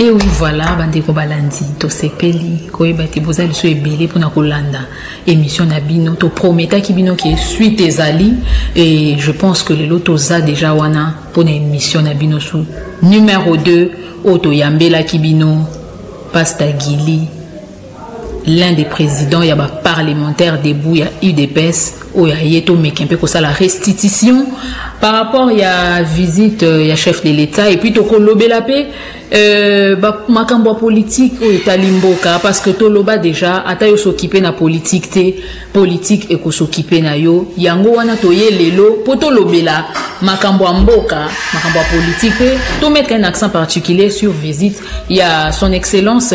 Et oui, voilà, bandeko balandi, tosepeli, koyeba te boza liso ebele pona kolanda émission na bino, to prometaki bino ke suite ezali et je pense que lelo toza déjà wana pona émission na bino sous numéro 2 oyo toyambelaki bino Pasta Gilly l'un des présidents ya ba parlementaire debout ya udps oyo aye tomeki mpe kosala restitution par rapport ya visite euh, ya chef de l'état epuis tokolobela mpe euh, makambo ya politike oyo etali mboka parce que toloba déjà ata yo sokipe na politike te politike ekosokipe na yo yango wana toye lelo mpo tolobela makambo ya mboka makambo ya politike mpe tomettre un accent particulier sur visite ya son excellence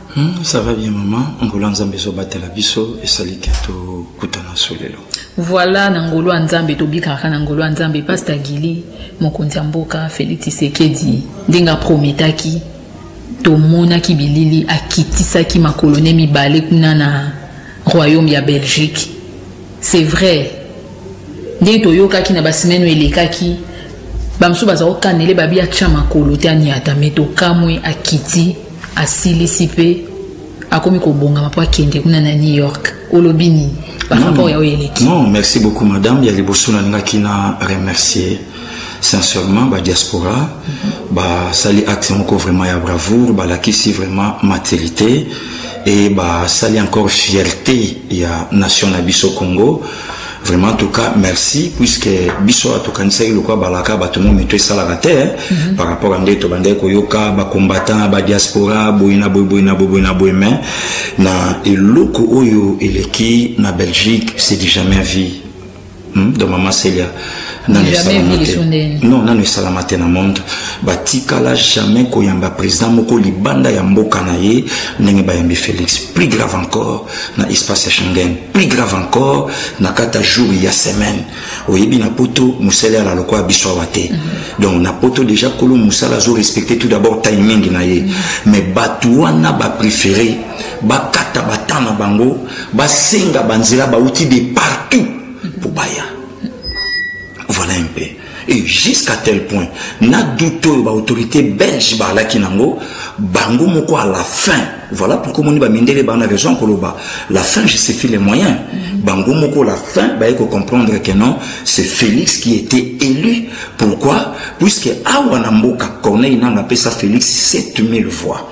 Hmm, ça va bien maman ngolo ya nzambe ezobatela biso esali te tokutana so lelo voilà na ngolo ya nzambe tobikaka na ngolo ya nzambe pasta gili mokonzi ya mboka félix tisekedi ndenge aprometaki tomonaki bilili akitisaki makolone mibale kuna na royaume ya belgique C'est vrai. Ndenge toyokaki na ba semaine elekaki bamosusu baza kokanele babi atya makolo te aniata me tokamwe akiti asilisi mpe akomi kobongama mpo akende kuna na new york olobi nini par rapport ya oyo eleki non merci beaucoup madame ya liboso nalingaki na remercier sincèrement ba diaspora basali axe moko vraiment ya bravoure balakisi vraiment maturité et basali encore fierté ya nation na biso congo vraiment en tout cas merci puisque biso oyo tokanisaki lokola balaka bato mo mito esalaka te hein, mm -hmm. par rapport à nde tobandaki koyoka bacombattant badiaspora boye na boye boye na boye boye na boye mais na eloko oyo eleki na belgique c'est du jamais vie Hmm, donc mama celia nanu esalama te non nanu esalama te na monde batikala jamais koyamba président moko libanda ya mboka na ye ndenge bayambi félix plus grave encore na espace ya schengen plus grave encore na kati ya jour ya semaine oyebi na poto mosala ya laloko ya biso awa te mhm. donc na poto déjà kolo mosala azo respecte tout d'abord timing na ye mhm. mais bato wana bapréféré bakata bata na bango basenga banzela bauti de partout mpo baya voilà un peu et jusqu'à tel point na doute oyo baautorité belge baalaki nango bango moko à la fin voilà pourquoi omoni bamindele bana raison koloba la fin je sais les moyens bango moko la fin baye kocomprendre que non c'est félix qui était élu pourquoi puisque awa na mboka corneille nanga apesa félix 7000 voix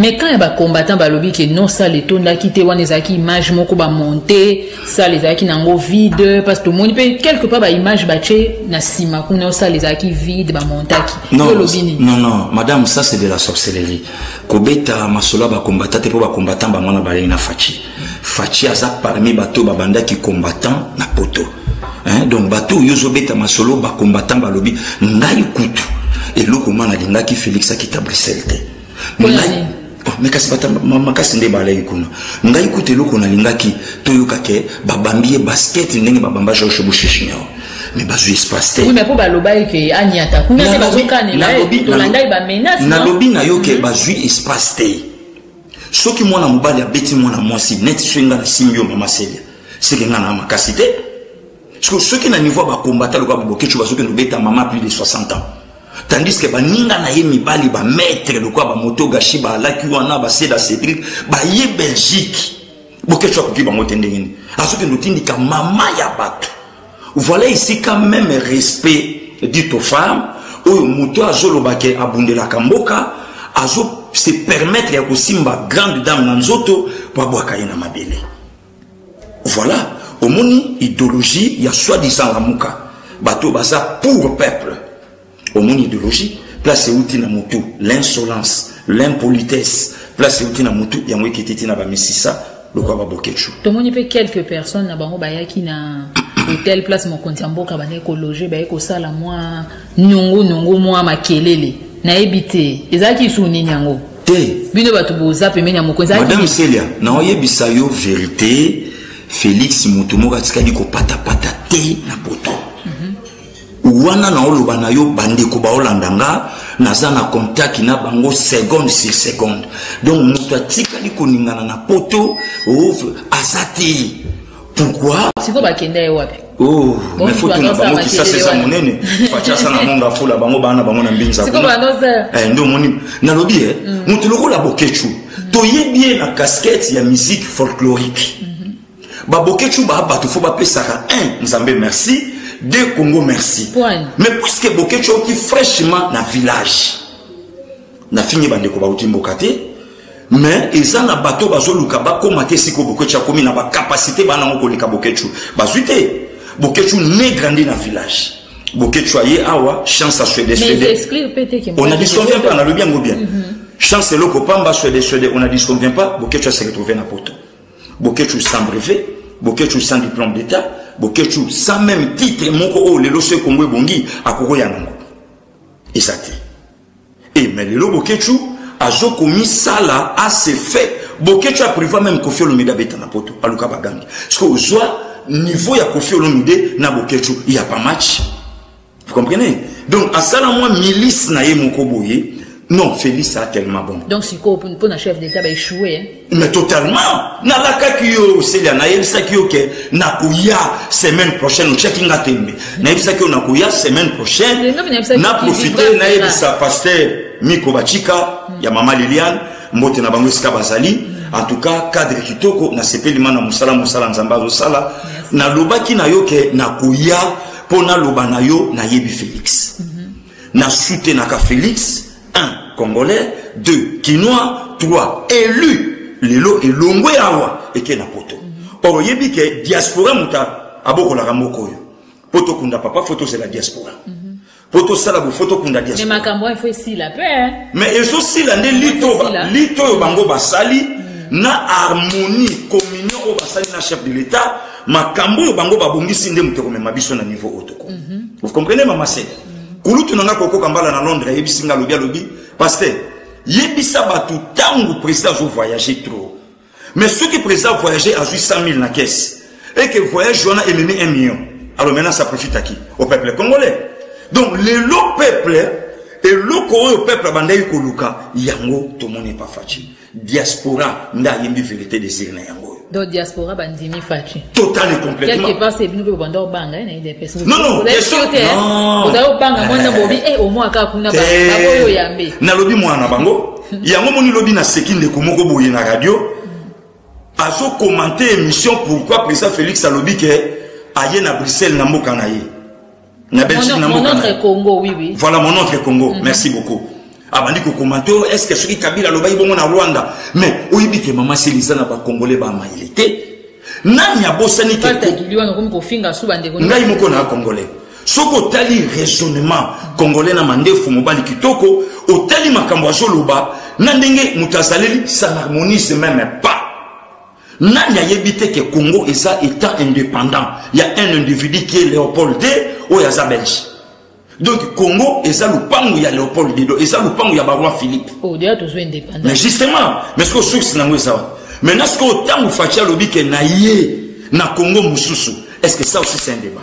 Mais quand ya ba combattants balobi que non salle etondaki te wana ezalaki image moko ba monter salle ezalaki nango vide parce que tomoni pe quelque part ba image batie na sima kuna o salle ezalaki vide ba montaki non olobi nini non non madame ça c'est de la sorcellerie kobeta masolo ba combattant te po ba combattant bango wana balei na fachi fachi aza parmi bato babandaki combattant na poto hein? donc bato oyo ozobeta masolo ba combattant balobi ngai kutu eloko nga nalingaki félix akita bruxelles te me kasi bata makasi nde balaki kuna ngai kuta eloko nalingaki toyoka ke babambi ye basket ndenge babamba george bush junior mais bazwi espace te oui, mais mpo baloba ye ke anyata kuna te bazokanela ye tolandaki bamenace nalobi na yo ke mhm. bazwi espace te soki mwana mobali abeti mwana mwasi neti soki ngai nasimbi yo mama selia seke ngai na makasi te Parce que soki na niveau ba combattant loka bokecho bazoki no beta mama plus de 60 ans. Tandis que baninga na ye mibali ba maître loka ba moto gashi ba laki wana ba seda Cédric ba ye Belgique. Bokecho akoki bango te ndenge nini. Azoki no tindika mama ya bato. Voilà ici quand même respect dit aux femmes oyo moto azoloba ke abundelaka mboka azo se permettre ya kosimba grande dame na nzoto po abwaka ye na mabele. Voilà, omoni ideologie ya soi-disant lamuka. Bato baza pour peuple. Omoni ideologie, place euti na mutu, l'insolence, l'impolitesse, place euti na mutu, yango ekititi na ba misisa, lokwa ba boketshu. Tomoni pe quelques personnes na bango bayaki na hotel place mokonzi ya mboka bandaki kologe baye kosala mwa niongo niongo mwa makelele nayebi te ezalaki lisusu nini yango te bino bato boza pembeni ya mokonzi madame celia naoyebisa yo verité félix moto moko atikali kopatapata te na poto mhm. wana naoloba na yo bandeko baolanda nga naza na contact na bango seconde sur seconde donc moto atikali koningana na poto aza te pourquoi sikoyo bakenda ye wapi Oh, mais faut tuna bango kisasa eza monene fachasa na monga fula bango bana bango na mbinza eh, nde omoni nalobi e eh, mm. moto lokola bokechu mm. toyebi ye na casquette ya musique folklorique mm-hmm. babokechu baa bato fo bapesaka un nzambe merci de congo merci mais puisque bokechu auti fraîchement na village nafingi bandeko bauti mboka te mais eza na bato bazoluka bakóma te siko boketshu akomi na bacapacité bana yango koleka boketshu bazwi te boketshu ne grandi na village boketshu aye awa chance ya swede swede on a disconvient pas nalobi yango bien mhm. chance eloko pamba swede swede on a disconvient pas boketshu ase retrouve na poto boketshu sans brevet boketshu sans diplôme d'état boketshu sans même titre moko oyo lelo so ekongo ebongi akokoya nango eza te Et mais lelo Boketshu azo komisala à ses faits. Boketshu a privé même Kofi Olomide abeta na poto aluka bagangi. Ce que ozwa niveau ya Kofi Olomide na Boketshu il y a pas match. Vous comprenez? Donc asala moi milice na ye moko boye. Non, Félix a tellement bon. Donc sikoyo mpo na chef d'etat baechouer mais totalement nalakaki yo oselia nayebisaki yo ke nakoya semaine prochaine otyaki nga tembe nayebisaki yo nakoya semaine prochaine na profite nayebisa paster miko bacika ya mama liliane mbote na bango esika bazali en tout cas cadre kitoko nasepeli ma na mosala mosala nzambe azosala nalobaki na yo ke nakoya mpo naloba na yo nayebi félix Na soutenaka Felix, un Congolais, deux Kinois, trois élu. Lelo elongwe awa eke na poto. Or oyebi ke diaspora muta abokolaka moko oyo. Poto kunda papa faut tozela diaspora. Mm -hmm. po tosala bofo tokunda diaspora mais makambo wana faut esila pe mais ezosila nde lito lito oyo bango basali mm. na harmonie communion oyo basali na chef de l'état makambo oyo bango babongisi nde moto ekomema biso na niveau oyo toko mm -hmm. vous comprenez mama se mm -hmm. kulutu na nga kokoka mbala na londres ayebisi nga alobi alobi paster yebisa bato ntango président azo voyage trop mais soki président voyage azwi 100 000 na kese et que voyage wana ememi 1 million alors maintenant ça profite à qui au peuple congolais donc lelo peuple eloko oyo peuple abandaki koluka yango tomoni epafaci diaspora nda ayembi verité desir na yango oyo donc diaspora bandimi faci total et complètement quelque part c'est bino mpe bobanda obanga ye na idps non non ozali obanga mwana bobi e omwa kaka kuna baoyo yambe nalobi mwana na bango yango moni lobi naseki ndeko moko boye na radio azokomante émission pourquoi président félix alobi ke aye na bruxelles na mboka na ye na belgique na mboka voilà mon autre congo mhm. merci beaucoup abandi kokomante oyo estce soki kabila alobaki bongo na rwanda mais oyebi ke mama selisa na bakongole bamayele te nani abosani ngai moko na akongole soki otali raisonnement congolais na mandefu mobali kitoko otali makambo azoloba na ndenge moto azaleli ça n'harmonise meme pas nani ayebi te ke congo eza etat indépendant ya un individu qui est léopold de oyo aza belge donc congo eza lupangu ya léopold de do eza lupangu ya baroi philippe oh, mais justement mais sikoyo source nango eza wapi maintenant sikoyo ntango faci alobi ke na ye na congo mosusu est ce que ça aussi c'est un débat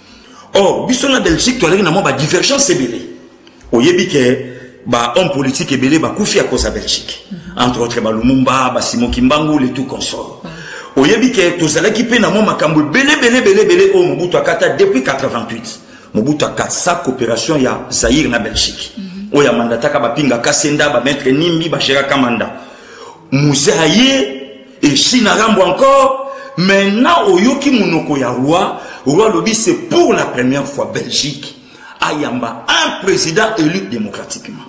or biso na belgique toalaki na mwa badivergence ebele oyebi ke bahomme politique ebele bakufi ya koza belgique entre autres balumumba basimo kimbangu le tout consort oyebi ke tozalaki mpe na mwa makambo ebele ebele ebele ebele oyo mobutu akata depuis 88 mobutu akatisa coopération ya zaire na belgique oyo amandataka bapinga kasenda bamaitre nimbi bagéraka manda muze aye Eshi na rambo encore maintenant oyoki monoko ya roi roi alobi c'est pour la première fois belgique ayamba un président élu démocratiquement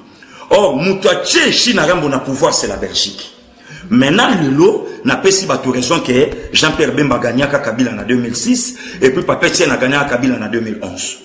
or moto atie eshi na rambo na pouvoir c'est la belgique maintenant lelo napesi bato raison ke jean pierre bemba gagnaka kabila na 2006 epuis papetien na gagnaka kabila na 2011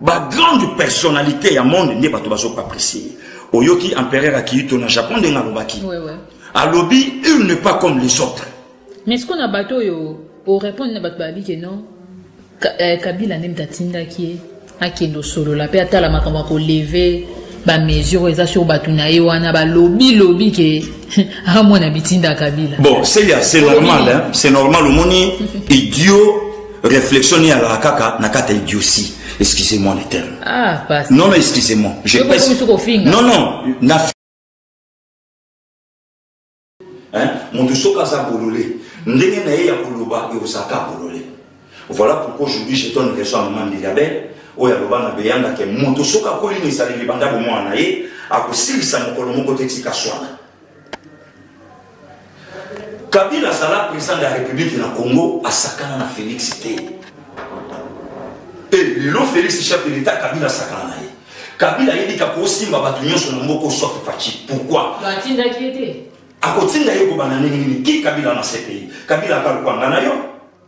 ba grande personnalité ya monde nde bato bazoka apprécier oyoki empereur akiyito na japon ndenge alobaki alobi il ne pas comme les autres mais siko na bato oyo orépondre na bato babi ke non eh, kabila nde moto atindaki ye akende osolola mpe atala makambo ya koleve bamesure oyo eza sur bato na ye wana balobilobi ke amona bitinda kabila bon c'est normal c'est normal omoni idiot Réflexion ni alaka kaka na kata idiotie. Excusez-moi les termes. Ah, passe. Non, non, excusez-moi. Je pèse. Non, non. Na hein? Moto soki aza bolole ndenge na ye ya koloba ekozalaka bolole voilà pourquoi aujourd'hui je donne raison à maman Mirabel oyo aloba na beyanga ke moto soki akoli na ezaleli banda bomwana na ye akosilisa mokolo moko te tika swana kabila azala président de la république na congo asakana na félix te e lelo félix chef de l'état kabila asakana na ye kabila ayebika kosimba bato nyonso na moko sauf faci pourkui atindaki ye te akotinda ye kobanda ndenge nini ki kabila na cpi kabila aka lokwanga na yo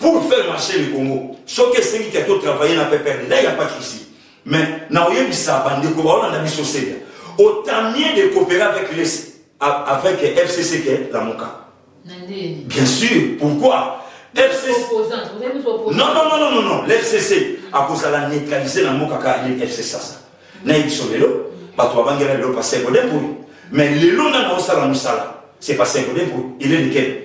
Pour faire marcher le Congo, soki esengi ke to travailler na PPR, là il n'y a pas de souci. Mais na oyebisa bandeko baolanda biso sega, autant mieux de coopérer avec les avec FCC que la Moka. Bien sûr, pourquoi FCC. Non, non, non, non, non, non. l'FCC a causé la neutraliser la Moka car il FCC ça. Na biso lelo, bato babangela lelo pa secondaire pour Mais lelo na na osala musala, c'est pas secondaire pour il est lequel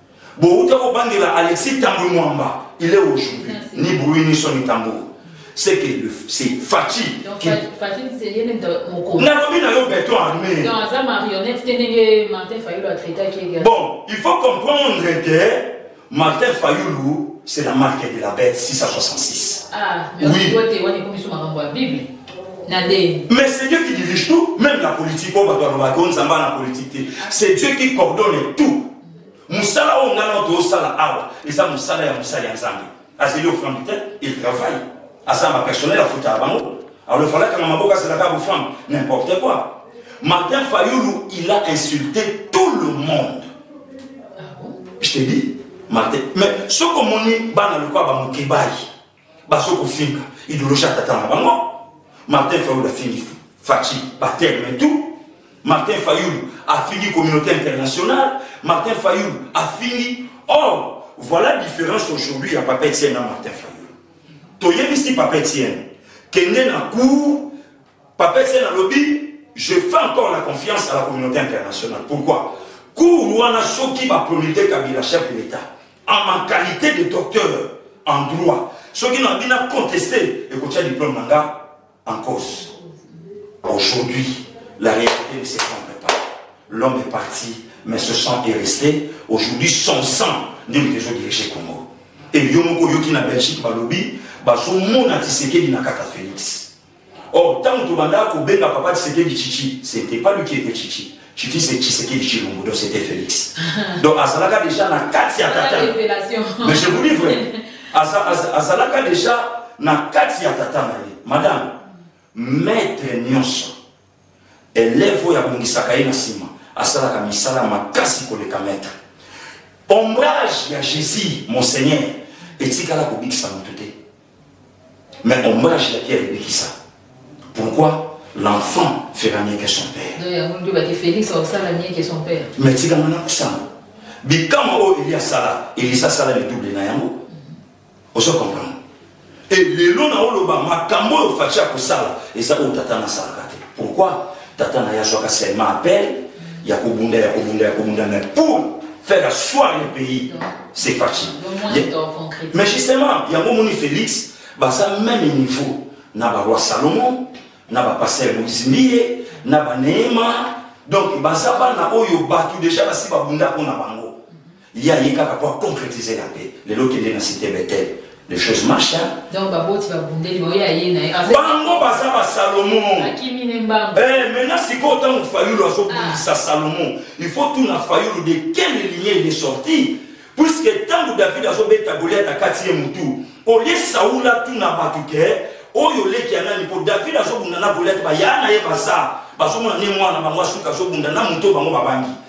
bowuta kobangela alexis tambwe mwamba il est aujourd'hui ni bruit ni son ni tambour c'est que c'est Fatih qui nalobi na yo beton armé bon il faut comprendre que Martin Fayoulou c'est la marque de la bête 666 ah mais oui mais c'est Dieu qui dirige tout, même la politique, oh, bah, bah, bah, c'est Dieu qui coordonne tout. mosala oyo ngai nao tozosala awa eza mosala ya mosali ya nzambe azeli oframbi te il travaille aza ma personnel afutaka bango alors efala kanga maboko azelaka boframbi n'importe quoi martin fayulu il a insulté tout le monde ah je te dis martin mais soki omoni bana lokola bamokebayi baso kofinga idoloji ya tata na bango martin fayulu afingi faci baterme tout martin fayulu afingi communauté internationale martin fayulu afingi or oh, voilà différence aujourd'hui ya papa etienne na martin fayulu toyebisi papa etienne kende na cour Papa Etienne alobi je fais encore la confiance à la communauté internationale. Pourquoi Cours wana soki ba promulguer Kabila chef de l'État en ma qualité de docteur en droit soki na bina contester et kotia diplôme nanga en cause. Aujourd'hui, la réalité ne se comprend pas. L'homme est parti, mais ce sang est resté. Aujourd'hui, son sang nde moto ezodirige Congo. Et yo moko oyoki na Belgique balobi bazomona Tshisekedi na kaka Félix. Or, tant que Banda Kobenga Papa Tshisekedi Chichi, c'était pas lui qui était Chichi. Chichi c'est Tshisekedi Chilombo, donc c'était Félix. donc Azalaka déjà na kati ya tata. Mais je vous dis vrai, Azalaka déjà na kati ya tata na ye. Madame, maître Nyonso, elève oyo abongisaka ye na nsima asalaka misala makasi koleka maître ombrage ya jésus monseigneur etikala kobikisa moto te mais ombrage ya pierre ebikisa pourquoi l'enfant fera mieux que son père mais tikanga na kosanga bikamwa oyo eli asala elisa asala lidouble na yango ozo comprendre e lelo na oloba makambo oyo faci akosala eza oyo tata nasalaka te pourquoi tata na ye azwaka seulement appel ya kobunda ya kobunda ya kobunda mais pour faire asseoir le pays c'est faci mais justement yango omoni félix baza même niveau na baroi salomon na bapasteur moïse mbiye na baneema donc baza bana oyo bato deja basi babunda mpo na bango Ye aye kaka po a concretiser na pe lelo kende na cite Bethel les choses marchent hein. donc baboti babundeli baoye aye na ye bango baza ba salomon akimi ne mbango eh, maintenant sikoyo ntango fayulu azobundisa ah. salomon il faut tuna fayulu de quelle ligne il est sorti puisque ntango david azobeta goliat akati ye motu olie saula tuna bato ke oyo oleki ya nani mpo david azobunda na goliat baya na ye baza bazomona ne mwana bango asuka azobunda na moto bango babangi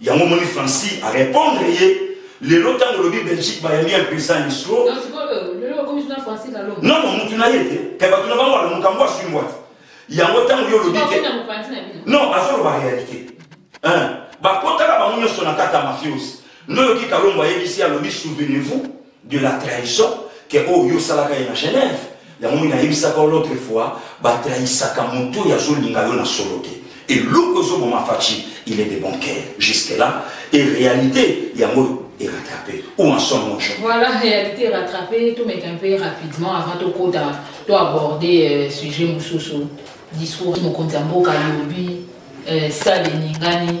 yango moni franci a répondre ye lelo ntango olobi belgique bayambi impesa instro nono mutu na ye te kai bato na bango wana mokambo aswimbwa te yango ntango yo olobi te non azoloba réalité bakotaka bango nyonso na kata mafiose ndoyoki kalombo ayebisi alobi souvenez-vous de la trahison ke oyo oh, yo osalaka ye na genève yango mini ayebisaka yo l'autre fois batrahisaka moto oyo azolinga yo na solo te eloko ezoboma faci il est de bon cœur jusque là et réalité yango est rattrapé ou en son manche voilà réalité rattrapée tout met un peu rapidement avant de tokota to aborder euh, sujet mosusu discours mokonzi ya mboka lobi euh, sale eningani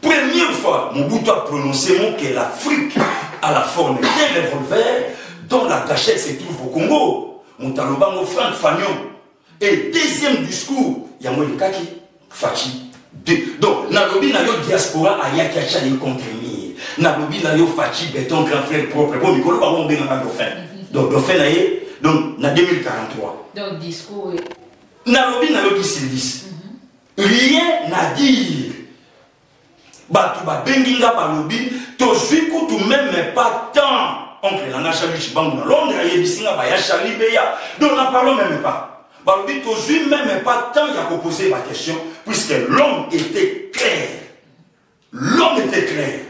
Première fois Mobutu a prononcé mot que l'Afrique a la forme d'un revolver dont la cachette se trouve au Congo. Moutalobango Franck Fagnon. Et deuxième discours, yango elekaki Fatshi. Donc, nalobi na yo diaspora ayaki atya ye contre mire. Nalobi na yo Fatshi beton grand frère propre. Bon, mikolo bango obengaka dauphin. Donc, dauphin na ye, donc na 2043. Donc, discours. Nalobi na yo Kisilvis. rien à dire bato babengi nga balobi tozwi kutu meme pas temps oncle na nga charli chibangu na londres ayebisi nga baya charli beya donc na parlo meme pas balobi tozwi meme pas temps ya kopose baquestion puisque l'homme était clair l'homme était clair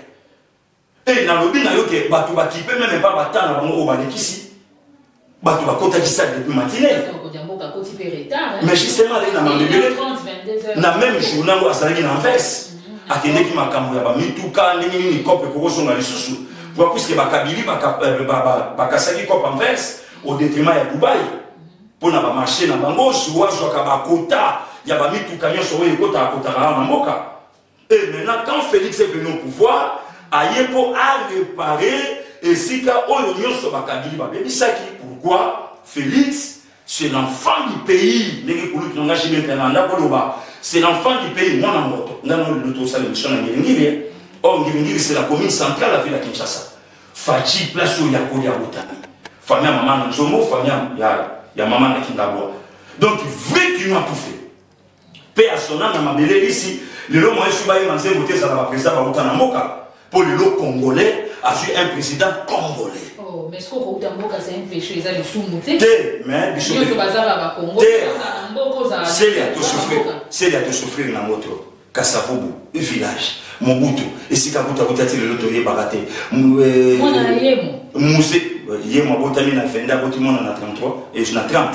Mpe nalobi na yo ke bato bakipe meme mpa bata na bango oyo balekisi bato bakotaki sale depuis matinee mais justement alei na mabebele na même journa yango azalaki na vese mhm. akendeki makambo ya bamituka ndenge nini cope ekokosonga lisusu mhm. po puiske bakabili euh, bakasaki cope en vese au détriment ya dubai mpo mhm. na bamarché na bango zuwa azwaka bakota ya bamituka nyonso oyo ekotakakotaka na mboka Et maintenant, quand Félix est venu au pouvoir, aye mpo arepare esika oyo nyonso bakabili babebisaki pourquoi félix c'est l'enfant du pays ndenge kulutu na ngashi mpe na ndako loba c'est l'enfant du pays mwana moto nga no lelo tosala émission na ngiringiri or oh, ngiringiri c'est la commune centrale la ville ya kinshasa faci place oyo ya kolia botami famille ya mama na nzombo famille ya, ya mama na kindabwa donc vrai kinois tout fait mpe ya sona na mabele lisi lelo moyen soki bayema nzembo te ezala bapresident bauta na mboka mpo lelo congolais azwi un président congolais oh, mais soki okouta mboka c'est un péché eza lisumu te te mais biso nyonso baza ba bakongo seli ya tosouffrir seli ya tosouffrir na moto kasavubu village mobutu esika kuta kuta ti lelo toyebaka te eh, muse yemo abotami na 22 aboti mwana na 33 na 30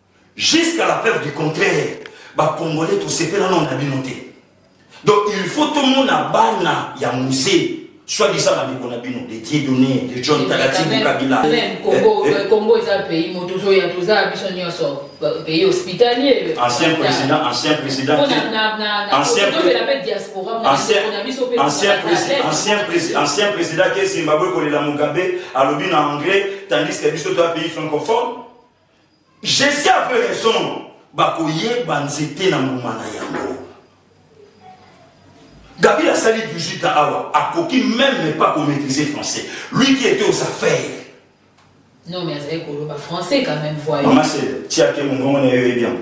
Jusqu'à la preuve du contraire, ba congolais to sepela non na bino te. Donc il faut tout monde à bana ya musée soit disant na bikona bino de tie donné de john tagati kabila même congo eh, eh. congo eza pays moto zo ya toza biso nyonso pays hospitalier ancien président ancien président ancien président ancien président ke zimbabwe kolela mugabe alobi na anglais tandis que biso toya pays francophone Jesse avait raison bakoyeba nzete na mbuma na yango Gabriel asali 18 ans awa akoki même pas ko maîtriser français lui qui était aux affaires non mais azali koloba français quand même voyons mama se tiake mongongo na yo eyebi yango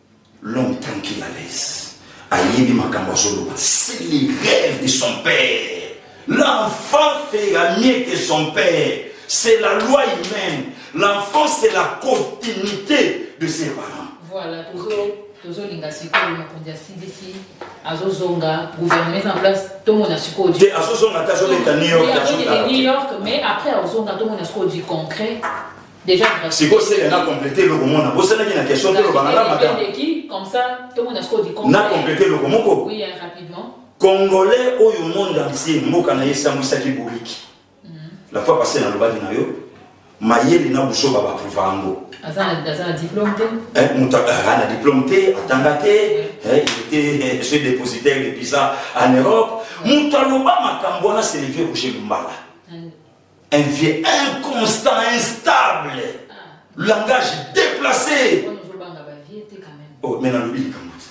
L'homme tranquille à l'aise. Ayebi makambo azoloba. C'est les rêves de son père. L'enfant fera mieux que son père. C'est la loi humaine. L'enfant, c'est la continuité de ses parents. Voilà, toujours. tozolinga sikoyo mokonzi ya cdc azozonga gouvernement eza en place tomona sikoyo te azozonga te azobeta new york new york mais après azozonga tomona sikoyo du concret Déjà gratuit. Siko sele na compléter loko mona. Bosana ki na question te lobana na madame. Qui comme ça tout le monde a ce qu'on dit comme. Na compléter loko moko. Oui, hein, rapidement. Congolais oyo monde entier mboka na esamwisaki bouriki. Mhm. La fois passée na lobaki na yo mayele na buso ba approuve yango. Aza aza diplôme te. Eh muta eh, ana diplôme te, atanga te. Eh, il était eh, chez dépositaire de visa en Europe. Muta loba makambo na Sylvie Roger Lumbala. Un vieux inconstant, instable. Langage déplacé. Oh, mais nalobi likambo te.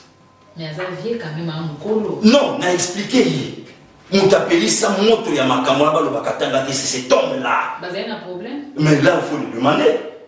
Mais aza vieux quand même hein, mokolo. Non, na expliqué ye. Moto apelisa moto ya makambo wana balobaka tanga te, c'est cet homme là. Bazali na problème. Mais là, il faut lui demander.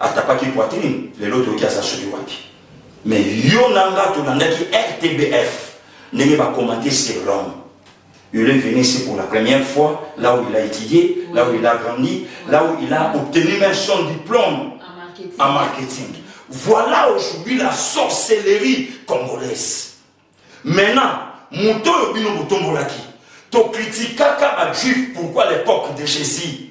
atapaki poitrine lelo toyoki aza soki wapi mais yo na nga tolandaki rtbf ndenge bakomante sur l'homme il est venu ici pour la première fois là où il a étudié là où il a grandi là où il a obtenu même son diplôme en marketing voilà aujourd'hui la sorcellerie congolaise maintenant moto oyo bino botombolaki tokritikaka bajuif pourquoi l'époque de jésus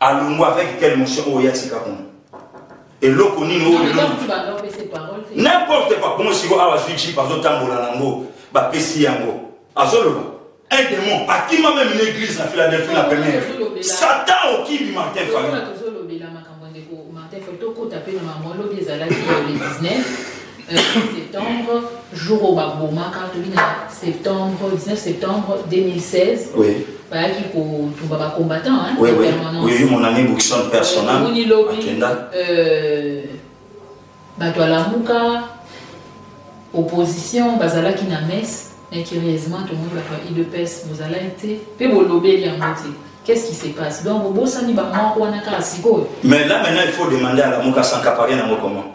alongwa avec quelle motion oyo ya tika kuna eloko nini oyo lelo n'importe quoi bongo siko awa azwi jip azotambola nango bapesi yango azoloba un démon akima meme na église na philadelphie na première satan okibi martin fayulu tokota mpe na bango lobi ezalaki le 19 19 septembre jour oyo babomaka tobi na septembre 19 septembre 2016 oui. bayaki kotumba bacombattant oui, oui. oui, mon ami bookson personnel omoni lobi euh, bato alamuka opposition bazalaki na messe mais curieusement tomoni bato ya idps bozalaki te mpe bolobeli yango te Qu'est-ce qui se passe Donc, au Bossani, bah, moi, on a Mais là, maintenant, il faut demander à la Moukassan Kaparien à comment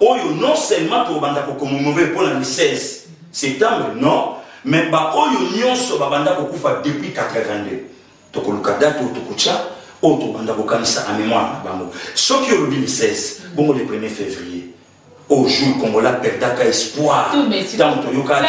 oyo non seulement tokobanda kokomomore mpo na le 16 septembre non mais baoyo nyonso babanda kokufa depuis 82 tokoluka date oyo tokotya oyo tokobanda kokanisa na mémoire na bango soki olobi le 16 bongo le 1er février au jour congolais perdaka espoir ntango toyokaka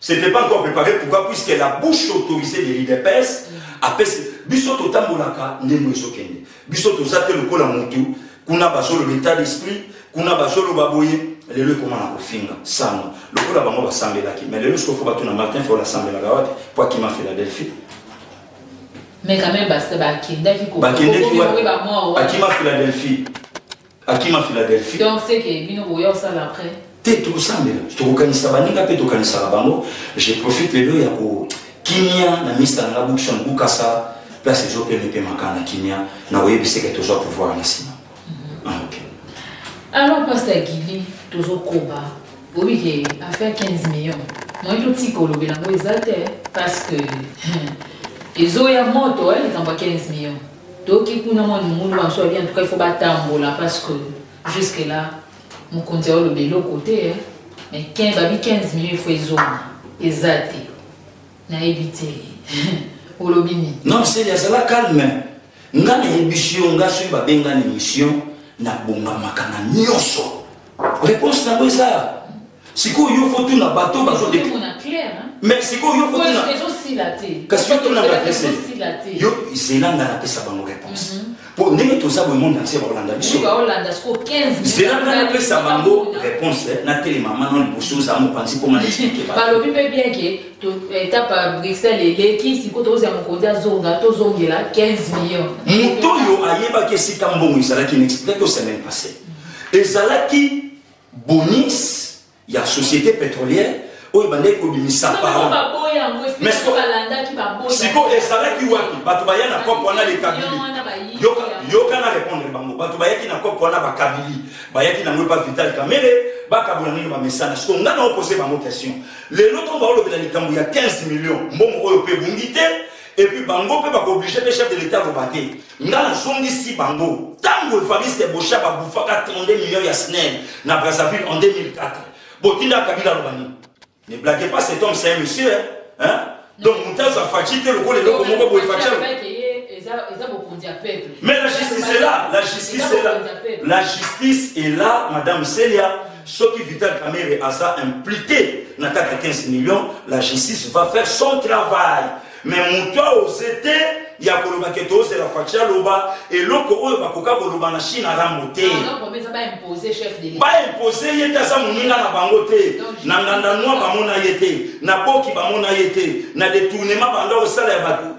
C'était pas encore préparé pourquoi puisque la bouche autorisée de l'IDPS apesi biso totambolaka ndenge ezokende biso toza te lokola mutu kuna bazoloba état d'esprit kuna bazoloba boye lelo ekoma na kofinga sango lokola bango basambelaki mais lelo sikoyo fo bato na martin fo nasambelaka wapi po akima philadelphie mais quand même bakendaki bakima philadelphie akima philadelphie donc seke bino boya osala après te tokosambela tokokanisa baninga mpe tokanisaka bango je profite lelo ya kokimia na mista nanga bukson bukasa place ezopema epemaka na kimia na koyebiseke tozwa pouvoir na nsima mhm. ah, ok alors pasta gili tozokoba oyebi ke affaire 15 million moye totika olobela yango eza te parce que ezoya moto eh, likambo ya 15 million toki kuna mwa limulu banso babi antuka ifo batambola parce que jusque là mokonzi aoloba eloko te eh. mais ken babi 15 million ifo ezonga eza te nayebi te olobi nini non seli azala calme nga na emission nga soki babengani emission nabongamaka na nyonso Réponse na eza sikoyo yo faut tuna bato bazo deke. Mais sikoyo yo faut tuna. Kasi yo tuna ba adresse. Yo zela nga na pesa bango réponse. Mhm. Po ndenge toza bo monde entier ba Hollanda biso. Ba Hollanda siko 15. Zela nga na pesa bango réponse eh, na tele maman non boso za mo panzi ko ma expliquer ba. Ba lobi pe bien que etape ya bruxelles eleki sikoyo tokozela mokonzi azonga tozongela 15 million moto oyo ayebaki esika mbongo ezalaki na explique au semaine passée ezalaki bonis ya société pétrolière oyo bandeki kobimisa sikoyo ezalaki wapi bato baya na cope wana lekabili yoka na répondre bango bato bayaki na cope wana bakabili bayaki nango epa vital kamere bakabola ndenge bamesana sikoyo ngai naopose bango question lelo ntongo baolobela likambo ya 15 million mbongo oyo mpe ebungi te et puis bango mpe bakooblige mpe chef de l'état aloba te nga nazongisi bango ntango evariste bosha babufaka 32 millions ya snel na brazzaville en 2004 botinda kabila aloba nini ne blague pas cet homme c'est un monsieur hein? donc moto azwa faci te lokola eloko moko boye faci mais la justice est là la justice est là la justice est là madame celia Soki Vital Kamerhe aza impliqué na kati ya 15 millions, la justice va faire son travail. Mais moto aoze te ya koloba ke tozela faci aloba eloko oyo bakoka koloba na chine arambo te baimpose ye te aza moninga na bango te na nganda nwa bamona ye te na boki bamona ye te na detournement banda kosala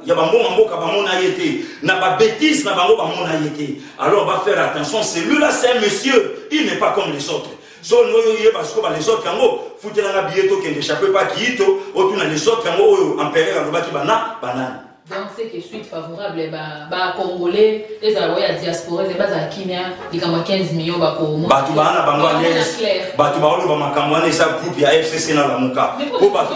ya bambonga mboka bamona ye te na babetise na bango bamona ye te alors va faire attention celui-là c'est un monsieur il n'est pas comme les autres zone oyo oyeba sikoba les autres yango futelanga biye tokende chape pa kiito otuna les autres yango oyo empereur alobaki bana banani donc ce qui suite favorable bacongolais ba ezala oyo ya diaspora eze bazala kimia likambo ya 15 million bakobato baa na bango bato baoloba makambo wana eza groupe ya fcc na lamuka po bato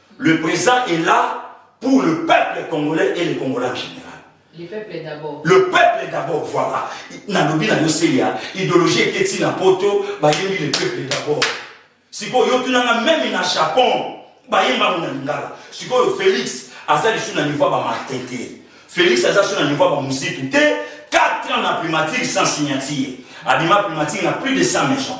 Le président est là pour le peuple congolais et les Congolais en général. Le peuple d'abord. Le peuple d'abord, voilà. Nalobi na yoseya, idéologie eketi na poto, bayembi le peuple d'abord. Siko yo tunanga même na Japon, bayemba na lingala. Siko yo Félix aza lisu na niveau ba Martin te. Félix aza sur na niveau ba musique te. 4 ans na primature sans signature. Abima primature na plus de 100 maisons.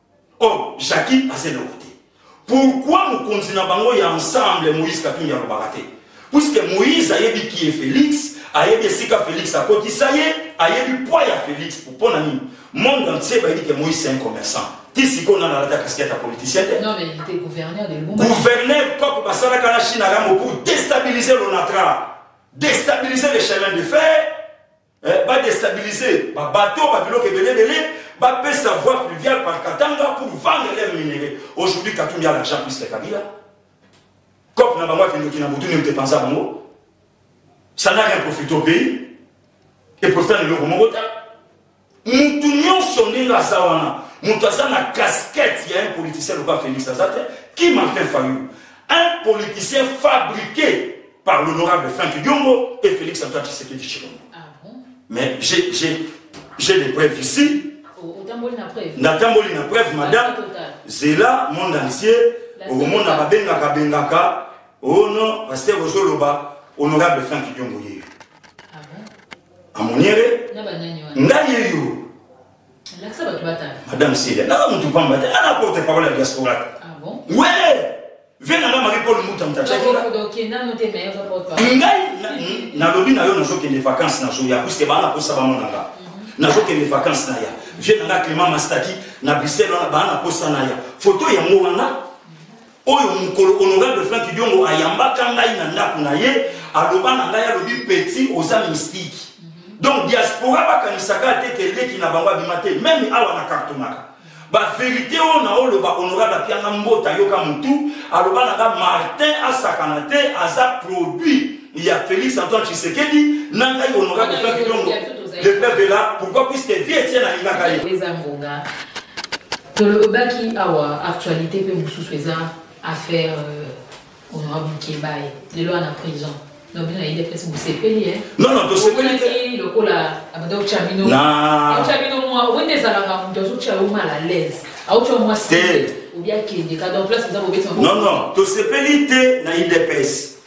Or, Jackie aza eloko te. Pourquoi mokonzi na bango ya ensemble Moïse Katumbi alobaka te? Puisque Moïse ayebi qui est Félix, ayebi esika Félix akotisa ye, ayebi poids ya Félix pour pona nini? Monde entier bayebi que Moïse c'est un commerçant. Ti sikoyo nana alata casquette ya politicien te. Non mais il était gouverneur de Lumumba. Gouverneur COP basalaka na Chine yango pour déstabiliser l'ONATRA, déstabiliser les chemins de fer. eh, ba déstabiliser ba bateaux ba biloko ebele ebele ba pesa voie pluviale par Katanga pour vendre leur minerais aujourd'hui Katumbi a l'argent plus que Kabila cop na bango akendoki na motu nini tepanza bango ça n'a rien profité au pays et profita na eloko moko te mutu nyonso ndenge aza wana mutu aza na casquette ya un politicien lokola Félix aza te qui Martin Fayou un politicien fabriqué par l'honorable Franck Diongo et Félix Antoine Tshisekedi Chilombo. Ah bon? Mais j'ai, j'ai, j'ai des preuves ici. Oh, Natamboli na preuve. Natamboli na preuve, madame. Zela, monde entier. okomona babengaka bengaka oh non pasteur ozoloba honorable frank diongo yeyo ah amoniere ngai yeyo Lakisa bato batala. Madame Celia, naza motu mpamba te, ana porte parole ya diaspora te. Ah bon? We! Vie na ngai Marie Paul Muta Muta chaki. Ngai nalobi na yo nazokende vacances nazoya puisque bana kosa bamona nga. Mhm. Nazokende vacances na ya. Vie na ngai Clément Mastaki na Bruxelles wana bana kosa na ya. Photo yango wana oyo mokolo honorable frank diongo ayambaka ngai na ndako na ye aloba na ngai alobi petit oza mystique mhm. donc diaspora bakanisaka te ke leki na bango abima te meme awa na kartonaka baverité oyo na oloba honorable apianga mbota yoka motu aloba na ngai martin asakana te aza produit ya félix antoine tshisekedi na ngai honorable frank diongo le peuple là pourquoi puisque vie etienne alingaka ye Tolobaki awa actualite pe mususu eza affaire euh, honorable Kebaye lelo ana prison non bino na idps bosepeli e non non tosepeli te lokola abanda otya bino otya bino mwa wende ezalaka moto azotya yo mal à l'aise aotya mwa se obi akende ka donc place eza bobeti non non tosepeli te na idps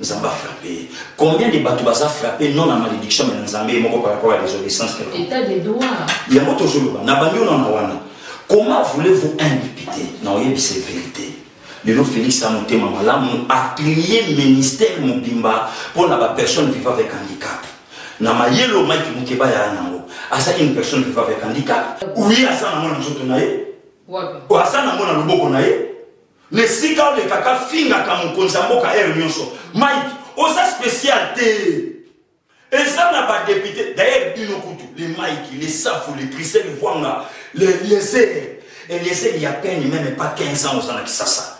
Nzambe a frappe ye. Combien de bato baza frappe non na malédiction mais na Nzambe ye moko par rapport à désobéissance quelconque. État de droit. Yango tozoloba na bandi ona na wana. Comment voulez-vous un député na oyebisa vérité lelo Félix a motema malamu a trier ministère mobimba mpo na bapersonne viva avec handicap na mayele oyo mike mokeba yaya nango azali une personne viva avec handicap oui aza nango na nzoto na ye aza nango na loboko na ye na esika olekaka fingaka mokonzi ya mboka ere nyonso mike oza spécial te eza na badepute dayer bino kutu le mike le safu le trisel vwanga le lieser elieser ya peine meme pas 15 ans oza na kisasa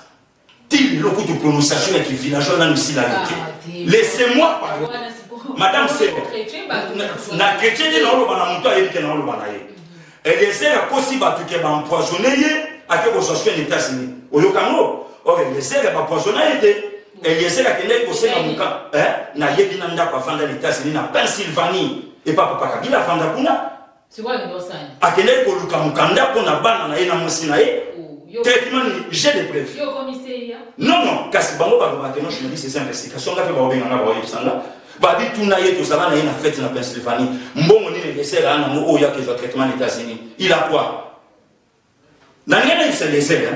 ti lelo kutu prononciation ya kivillageois nanu esila yo te ah, laissez moi pardon madame sebo na chrétien nde naoloba na moto ayebi te naoloba na ye Eliezer akosi bato ke ba empoisonne ye ake kozwa soin etats unis oyoka yango or eliezer bapoisona ye te eliezer akendaki kosenga moka eh, nayebi na ndako afanda na etats unis na pennsylvanie epa papa kabila afanda kuna akendaki koluka mokanda mpo na bana na ye na mwasi na ye oh, traitement nini j'ai des preuves non non kasi bango balobaka no journaliste eza investigation nga mpe baobenga nga baoyebisa nga babi tuna ye tozala na ye na fete na pennsylvanie mbongo nini elesere ana yango oyo yaka ezwa traitement na états-unis il a quoi na ndenge nayebisa lesere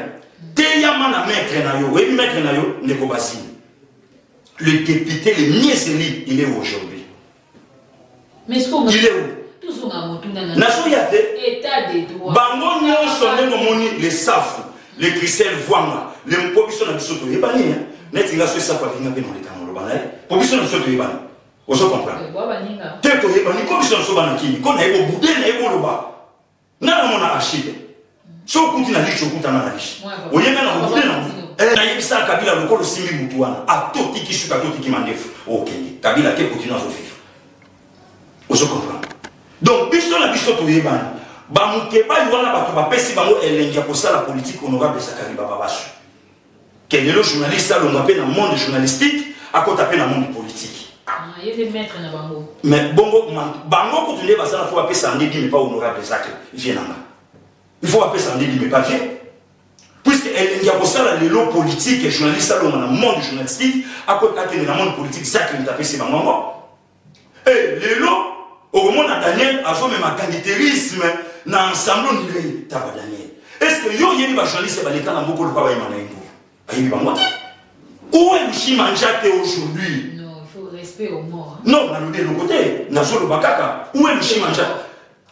teyama na maître na yo oyebi maître na yo ndeko basile le député le mieux élu il est aujourd'hui il est où nazoya te bango nyonso nde momoni lesafu le christian vuanga le mpo biso na biso toyebani hein. neti nga so esapo alinga mpe noleka na oloba na ye mpo biso na biso toyebani ozo comprendre te toyebani ko biso na biso bana kini ko naye bobude naye boloba nga namona archive so okuti na lichi okutana na lichi oyebani na bobude na eh, nayebisaka kabila lokola osimbi motu wana atotiki suka atotiki mandefu okende kabila te kotino azoviva ozo comprendre donc biso na biso toyebani bamukebali wana bato bapesi bango elengi ya kosala politike honorable zakari bababasu ke lelo journaliste alonga mpe na monde journalistique akota mpe na monde politique mais bongo bango kutu nde bazala fo bapesa yango edimi mpa honorable zaki vie nanga il faut bapesa yango edimi mpa vie puisque elengi ya kosala lelo politike journaliste alonga na monde journalistique akende na monde politique zaki moto apesi bango yango Eh, lelo okomona daniel azomema kanditerisme na ensemble ondirei taba daniel est ce que yo oyebi bajournaliste baleka na moko lokola bayema na ye mboka ayebi bango te omg manja te aujourd'hui non nalobi eloko te nazoloba kaka omg manja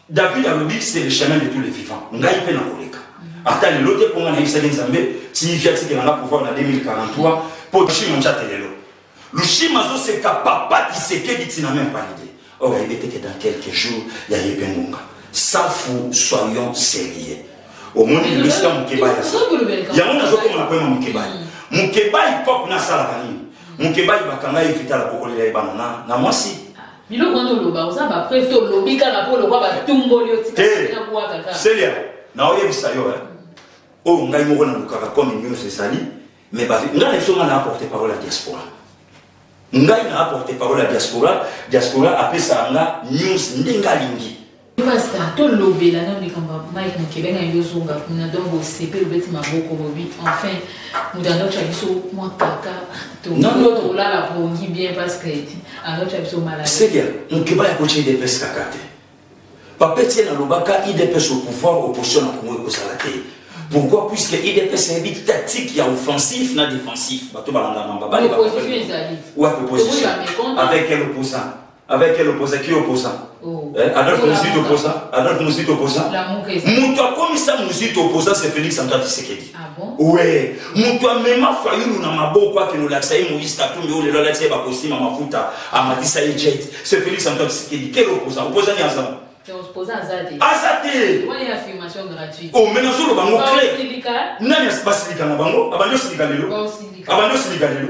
David alobi c'est le chemin de tous les vivants. Ngai pe na koleka. Ata lelo te mpo nga nayebisaki Nzambe ti via tikela nga pouvoir na 2043 mpo Lushima njate lelo. Lushima azoseka papa Tshisekedi ti na même pas l'idée. Or ayebi ete que dans quelques jours ya ye pe ngonga. Safu soyons sérieux. omoni lelo esika mokebali yango nazokoma na koyema mokebali mokebali pop nasalaka nini mokebali bakanga ye vitala kokolela ye bana na mwasi biloko wana oloba oza ba preuve to olobi kaka mpo lokwa batumboli yo tikabwaka kaka selia naoyebisa yo eh. oyo ngai moko nalukaka comme news ezali mais ngai na biso ngai na apporte parole ya diaspora ngai na apporte parole ya diaspora diaspora apesaka nga news ndenge alingi Pasta, to lobela na likambo ya Mike Mukebenga yo zonga kuna donc bosepe lobeti maboko bobi enfin moto andotya biso mwa kaka tolala pongi bien parce que andotya biso malade. Seigneur, Mukeba ya kotya IDPS kaka te. Papeti ye nalobaka IDPS au pouvoir opposition na Congo ekozala te. Pourquoi Puisque IDPS ayebi tactique ya offensif na défensif. Bato balanda mamba. Bale bakoki. Opposition ezali. Ouais, opposition. Avec quel opposant avec quel opposant qui opposant oh. eh, adolphe muzito opposant adolphe muzito opposant moto akomisa muzito opposant c'est félix antoine tisekedi ah bon? we moto amema fayulu na maboko akende olakisa ye moïse katumbi oyo lelo alakisa ye bakosima mafuta amatisa ye jet c'est félix antoine tisekedi quel opposant opposant ni azama aza te omena oh, ozoloba ngo cle nani basilika na bango abandi osilika lelo abandi osilika lelo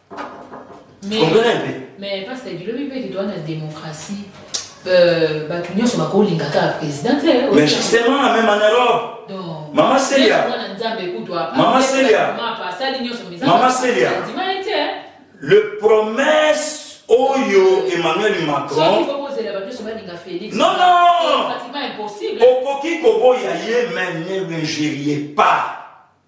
mais pasteur bilobi mpe kitu wana démocratie euh, bato nyonso bakolinga kaka président te eh, mais justement na même en europe mama selia mama selia mama selia eh. le promesse oyo emmanuel macron non non okoki koboya ye mais ne l'injurier pas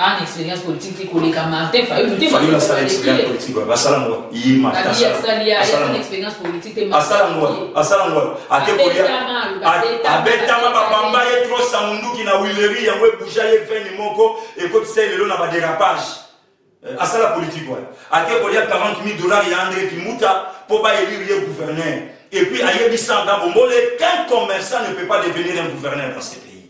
Ana experience politique te koleka Martin Fayulu te. Fayulu asala experience politique wapi? Asala ngo ye Martin. Kabi asali ya asala experience politique te. Asala ngo asala ngo ate kolia. Abetama babamba ye trop sa munduki na Willery yango ebuja ye veni moko ekotisa ye lelo na ba derapage. Eh, asala politique wapi? Ate kolia 40 000 dollars ya Andre Kimuta po ba élire ye gouverneur. Et puis ayebisa nga bombole qu'un commerçant ne peut pas devenir un gouverneur dans ce pays.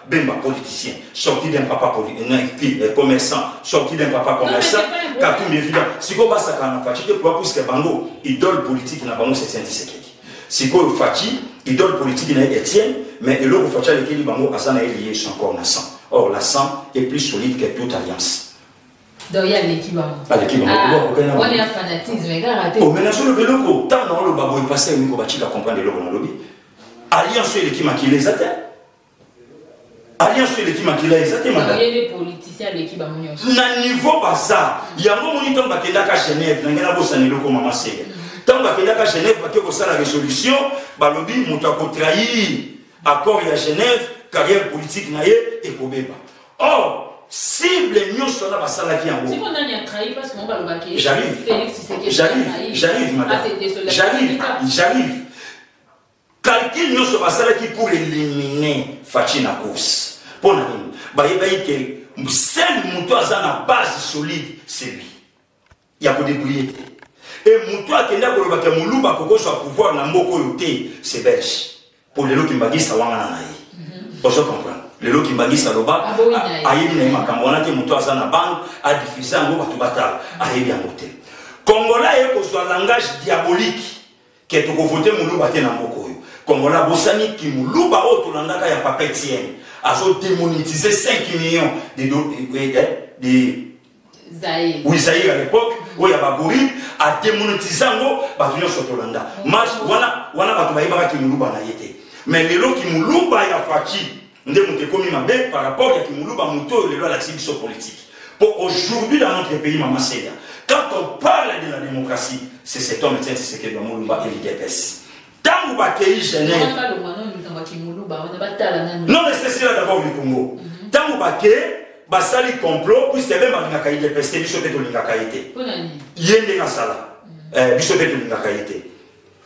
Bemba politicien, sorti d'un papa politique, euh, euh, commerçant, sorti d'un papa commerçant, Katumbi évident. Siko basaka na Fatshi te pour puisque bango idole politique na bango c'est Saint Tshisekedi. Siko Fatshi idole politique na Etienne, mais eloko Fatshi alekeli bango asa na lié son corps na sang. Or la sang est plus solide que toute alliance. donc ye aleki bangowana fanatisme ekaka te omena solo beloko ntango na oloba boye pasi ya miko batika comprendre eloko nalobi alliance oyo eleki makila eza te alliance oyo eleki makila eza te na niveau baza yango moni ntango bakendaka genève nange nabosana eloko mama sega ntango bakendaka genève bake kosala résolution balobi moto akotrahir accord ya genève carrière politique na ye ekobeba or cible nyonso wana basalaki yangojarrive madame jarrive Calcul nyoso basalaki pour eliminer Fatshi na course. Pour na nini? Bayebaki que seul mutu aza na base solide c'est lui. Ya ko débrouiller te. Et mutu akenda koloba que muluba kokoswa pouvoir na mboko oyo te, c'est belge. Pour lelo kimbagisa wangana na ye. Ozo comprendre? lelo kimbangisa loba ayebi na ye makambo wana te moto aza na bange adifuse yango bato batala ayebi yango te kongola ye kozwa langage diabolique ke toko vote muluba te na mboka oyo kongola bosani ki muluba oyo tolandaka ya papa etienne azo demonetize 5 millions de, de, de, eh, eh, de Zaïre. Oui, Zaïre à l'époque, où il y a Bagori, a démonétisé en gros, bah tu sur Tolanda. Mas, voilà, voilà, bah tu vas y avoir qui moulouba n'a été. Mais les lots qui moulouba y a Fatih, nde moto ekomi mabe par rapport ya kimuluba moto oyo lelo alakisi biso politique mpo aujourd'hui dans notre pays mama seya quand on parle de la démocratie c'est cet homme etienne tshisekedi ya molumba et l'idps ntango bakei genève non mais c'est cela d'abord du congo ntango mhm. bakei basali complot puisque meme balingaka idps te biso mpe tolingaka ye te ye ndenge asala mhm. eh, biso mpe tolingaka ye te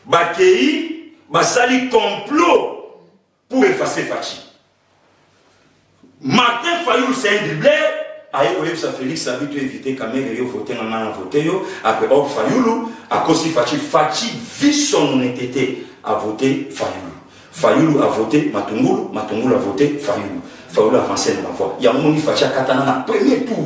bakei basali complot pour effacer Fatshi. Martin Fayou, c'est un doublé. aye koyebisa félix abi to évite kamere yo vote nga ngai na vote yo après or fayulu akosi faci faci vi son honnêteté a vote fayulu fayulu a vote matungulu matungulu a vote fayulu fayulu avance na bavoi yango moni faci akatana na premier tour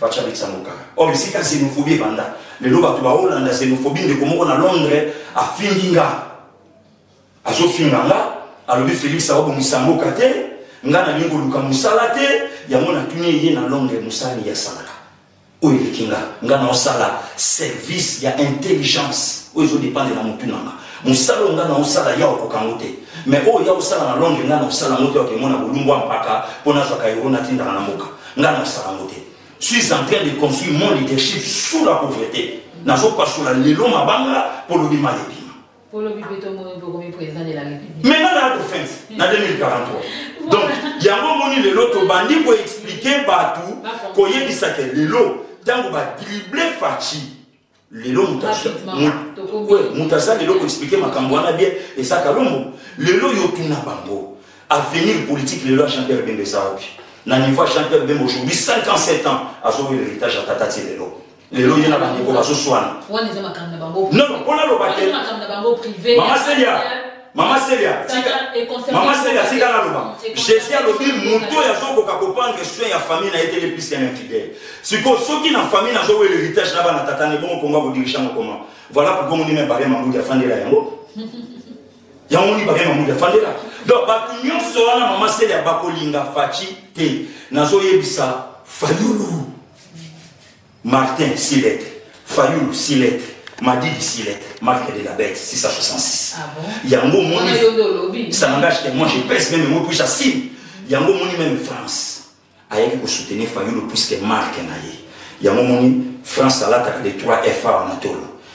Fatshi abetisa ngo kaka. Or bisika xenophobie ebanda. Lelo bato baolanda xenophobie ndeko moko na Londres afingi nga. Azofinga nga, alobi Felix akobongisa mboka te, nga nalingi koluka mosala te, yango natuni ye na Londres mosala nini asalaka. Oyo eleki nga, nga naosala service ya intelligence oyo ezodepende na motu na nga. Mosala oyo nga naosala ya okoka ngo te. Mais oyo ya osala na Londres nga naosala ngo te, okemona bolumbu ya mpaka mpo nazwaka euro natindaka na mboka. nga nasala yango te suis en train de construire mon leadership sous la pauvreté nazopasola lelo mabanga mpo lobi mai ebima maintenant na adofense na 2043 donc yango omoni lelo tobandi koexplike bato koyebisa ke lelo ntango badrible faci lelo moto aza lelo koexplike makambo wana bien eza kalombo lelo yo tuna bango avenir politique lelo ya jean pierre bembe eza wapi na niveau ya jean pierre bembe aujourd'hui 57 ans azoyo héritage ya tata ti lelo lelo ye na bandeko bazoswana non mpona loba te mama selia mama selia mama selia tika naloba jésus alobi moto oyo azokoka koprendre soin ya famille na ye te lepisi ya infidèle sikoyo soki na famille nazowela héritage na bana tata ne bongo mpongo akodirige yango koma voilà pourquoi moni me baria mambudi afandela yango yango moni baria mambudi afandela donc bato nyonso wana mama selia bakolinga faci te nazoyebisa fayulu Martin Silet, Fayulu Silet, Madidi Silet, marque de la bête 666. Ah bon? Yango moni. Ça n'engage que moi, je pèse même moi puis j'assume. Yango moni même France. Ayaki ko soutenir Fayulu puisque marque na ye. Yango moni France alataka les 3 FA en atolo.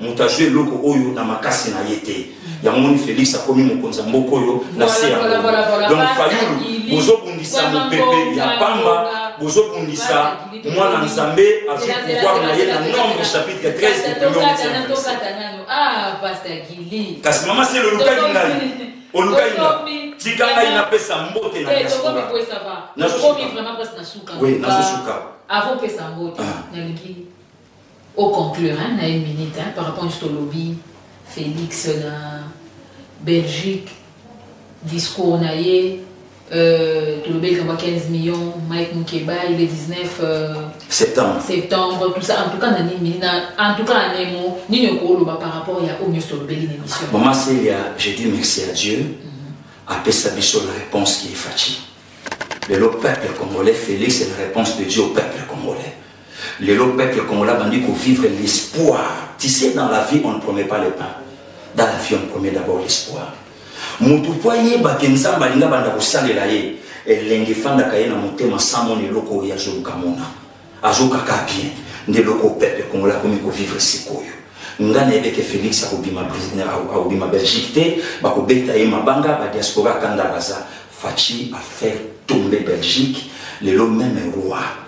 moto azwi eloko oyo na makasi na ye te yango moni félix akomi mokonzi ya mboka oyo na se yango donc fayulu bozobundisa mopepe ya pamba bozobundisa mwana nzambe azwi pouvoir na ye na nombre chapitre 13 kasi mama sele olukaki ngai olukaki nga tika ngai napesa mbote na diaspora nazosuka oui nazosuka avant pesa mbote nalingi O conclure hein na une minute hein par rapport nionso tolobi Felix na Belgique discours na ye euh, tolobeli kama 15 millions Mike Mukeba il est 19 euh, septembre septembre tout ça en tout cas na nini na en tout cas na nemo nini okoloba par rapport ya oyo nionso tolobeli na émission maman Celia je dis merci à Dieu mm -hmm. apesa biso la réponse qui est fatiguée lelo peuple congolais Félix est la réponse de Dieu au peuple congolais Lelo peuple congolais abandi ko vivre l'espoir. Tu sais dans la vie on ne promet pas le pain. Dans la vie on promet d'abord l'espoir. Mutu po ayeba ke Nzambe alinga banda kosalela ye elengi efandaka ye na motema sans mona eloko oyo azoluka mona azokaka bien nde eloko peuple congolais akomi kovivre sikoyo nga nayebeke félix akobima akobima belgique te bakobeta ye mabanga badiaspora kanda baza faci afaire tombe belgique lelo meme roi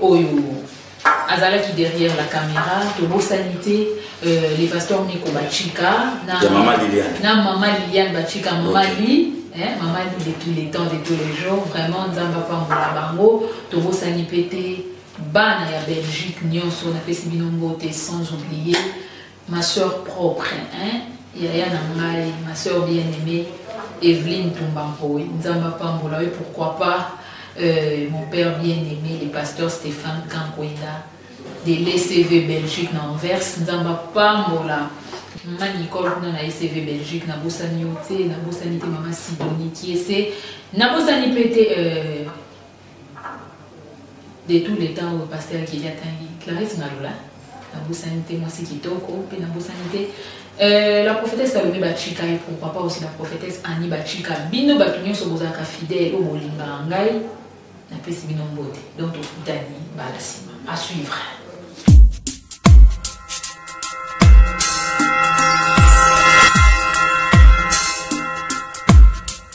oyo azalaki derrière la caméra tobosani te euh, le pasteur miko bachika na, ya mama liliane na mama liliane bachika mama okay. li eh, mama li de tous les temps de tous les jours vraiment nzambe apambola bango tobosani mpe te bana ya belgique nyonso napesi bino mbote sans oublier Ma soeur propre hein yaya na ngai ma soeur bien aimée Evelyne Tumba Mpoy Nzambe apambola yo pourquoi pas euh, mon père bien aimé le pasteur Stéphane Kankwenda de l'ECV Belgique na Anvers Nzambe apambola mama nicole kuna na ecv belgique nabosani yo te nabosani te mama sidoni kiese nabosani mpe te euh, de tout le temps oyo pasteur keli atangi clarisse ngalula nabosani te mwasi kitoko mpe nabosani te Euh, la prophétesse Salomé Bachika et pourquoi pas aussi la prophétesse Annie Bachika. Bino bato nyonso bozalaka fidèle oyo bolingaka ngai napesi bino mbote donc tokutani mbala nsima à suivre